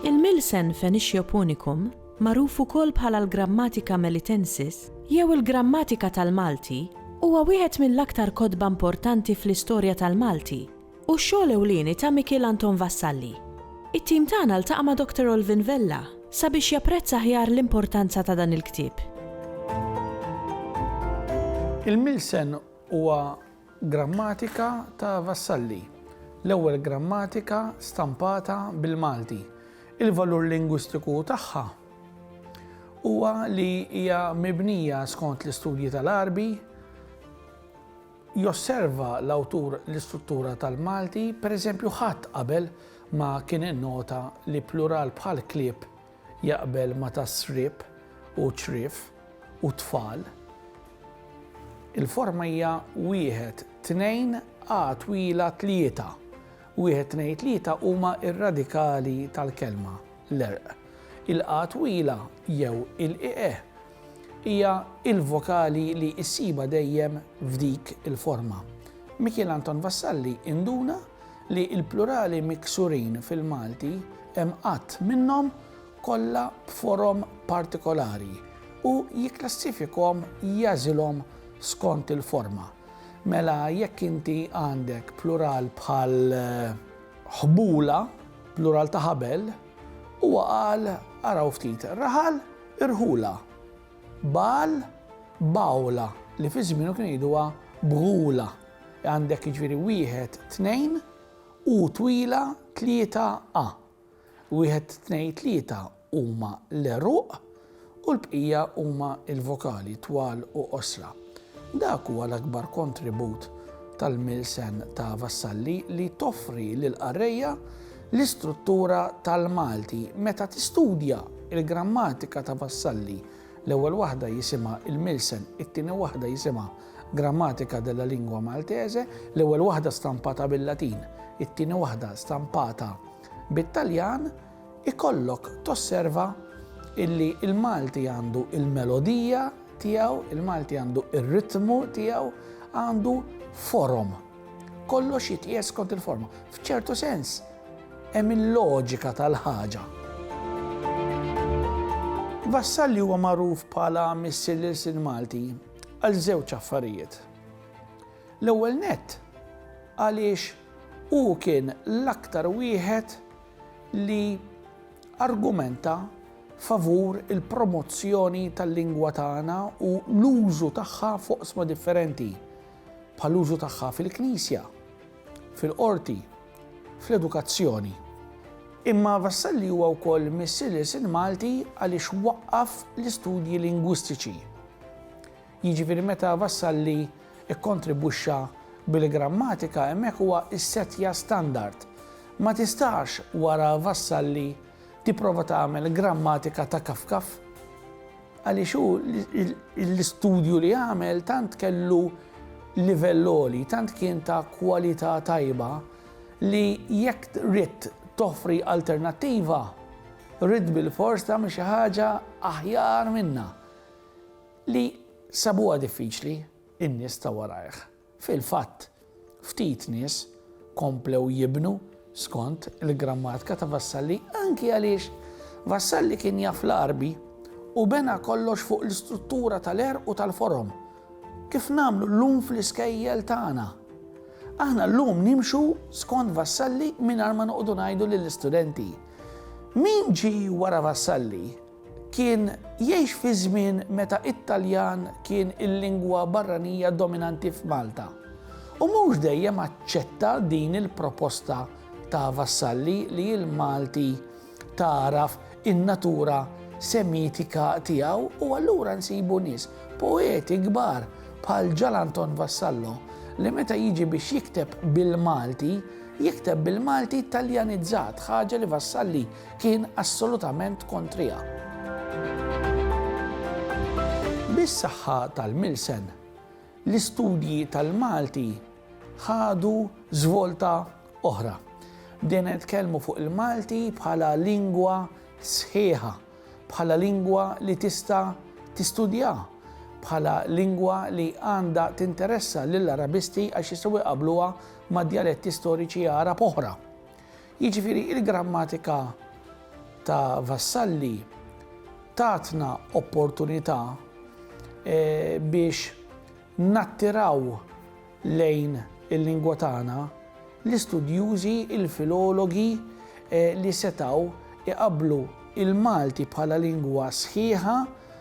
Il-Milsen Fenixio Punicum, magħruf ukoll bħala l-Grammatika Melitensis jew il-Grammatika tal-Malti, huwa wieħed mill-aktar kotba importanti fl-istorja tal-Malti u x-xogħol ewlieni ta' Mikiel Anton Vassalli. It-tim tagħna ltaqa' ma' Doctor Olvin Vella sabiex japprezza aħjar l-importanza ta' dan il-ktieb. Il-Milsen huwa grammatika ta' Vassalli, l-ewwel grammatika stampata bil-Malti. Il-valur lingwistiku tagħha huwa li hija mibnija skont l-istudji tal-Għarbi, Josserva l-awtur l-istruttura tal-Malti, pereżempju ħadd qabel ma kien innota li plural bħal klieb jaqbel ma ta' sriep u ċriev u tfal. Il-forma hija wieħed, tnejn, a twila tlieta. Wieħed tnejn tlieta huma r-radikali tal-kelma, l-erq. Il-a twila jew il-ieqe Hija l-vokali li ssibha dejjem f'dik il-forma. Mikiel Anton Vassalli induna li l-plurali miksurin fil-Malti hemm għadd minnhom kollha b'forom partikolari u jikklassifikhom jagħżilhom skont il-forma. Mela jekk inti għandek plural bħal ħbula, plural ta' ħabel, huwa qal, araw ftit, raħal, Irħula, Baal, Bawla, li fi żmienu kienu jgħiduha Bghula. Għandek jiġifieri wieħed, tnejn, u twila, tlieta, a. Wieħed, tnejn, tlieta huma l-għeruq u l-bqija huma l-vokali, twal u qosra. Dak huwa l-akbar kontribut tal-Milsen ta' Vassalli li toffri lill-qarrejja l-istruttura tal-Malti. Meta tistudja l-grammatika ta' Vassalli, l-ewwel waħda jisimha Il-Milsen, it-tieni waħda jisimha Grammatica della lingua maltese, l-ewwel waħda stampata bil-Latin, it-tieni waħda stampata bit-Taljan, ikollok tosserva illi il-Malti għandu il-melodija tiegħu, il-Malti għandu ir-ritmu tiegħu, għandu forom. Kollox jitqies kont il-forma. F'ċertu sens, hemm il-loġika tal-ħaġa. Vassal li huwa magħruf bħala missier lil sin Malti għal żewġ affarijiet. L-ewwel nett għaliex hu kien l-aktar wieħed li argumenta favur il-promozzjoni tal-lingwa tagħna u l-użu tagħha f'oqsma differenti, bħall-użu tagħha fil-knisja, fil-qorti, fl-edukazzjoni. Imma Vassalli huwa wkoll missier lil Sin Malti għaliex waqqaf l-istudji lingwistiċi. Jiġifieri meta Vassalli kkontribwixxa bil-grammatika hemmhekk huwa ssettja standard. Ma tistax wara Vassalli tipprova tagħmel grammatika ta' kafkaf. Għaliex hu l-istudju li għamel tant kellu livell għoli, tant kien ta' kwalità tajba li jekk ridt toffri alternattiva, ridt bilfors tagħmel xi ħaġa aħjar minnha. Li sabuha diffiċli n-nies ta' warajh. Fil-fatt, ftit nies komplew jibnu skont il-grammatika ta' Vassalli anki għaliex Vassalli kien jaf l-Għarbi u bena kollox fuq l-istruttura tal-għerq u tal-forom, kif nagħmlu llum fl-iskejjel tagħna. Aħna llum nimxu skont Vassalli mingħajr ma noqogħdu ngħidu lill-istudenti, Min ġie wara Vassalli? Kien jgħix fi żmien meta t-Taljan kien il-lingwa barranija dominanti f'Malta u mhux dejjem aċċetta din il-proposta ta' Vassalli li l-Malti tagħraf in-natura Semitika tiegħu u allura nsibu nies poeti kbar bħal Ġal Anton Vassallo li meta jiġi biex jikteb bil-Malti jikteb bil-Malti Taljanizzat, ħaġa li Vassalli kien assolutament kontriha. Bis-saħħa tal-milsen, l-istudji tal-Malti ħadu żvolta oħra. Bdejna nitkellmu fuq il-Malti bħala lingwa sħiħa, bħala lingwa li tista' tistudja, bħala lingwa li għandha tinteressa lill-Arabisti għax jistgħu jqabluha ma' djaletti storiċi Arab oħra. Jiġifieri il-grammatika ta' Vassalli tatna opportunità biex nattiraw lejn il-lingwa tagħna l-istudjużi, il-filologi li setgħu jqabblu l-Malti bħala lingwa sħiħa,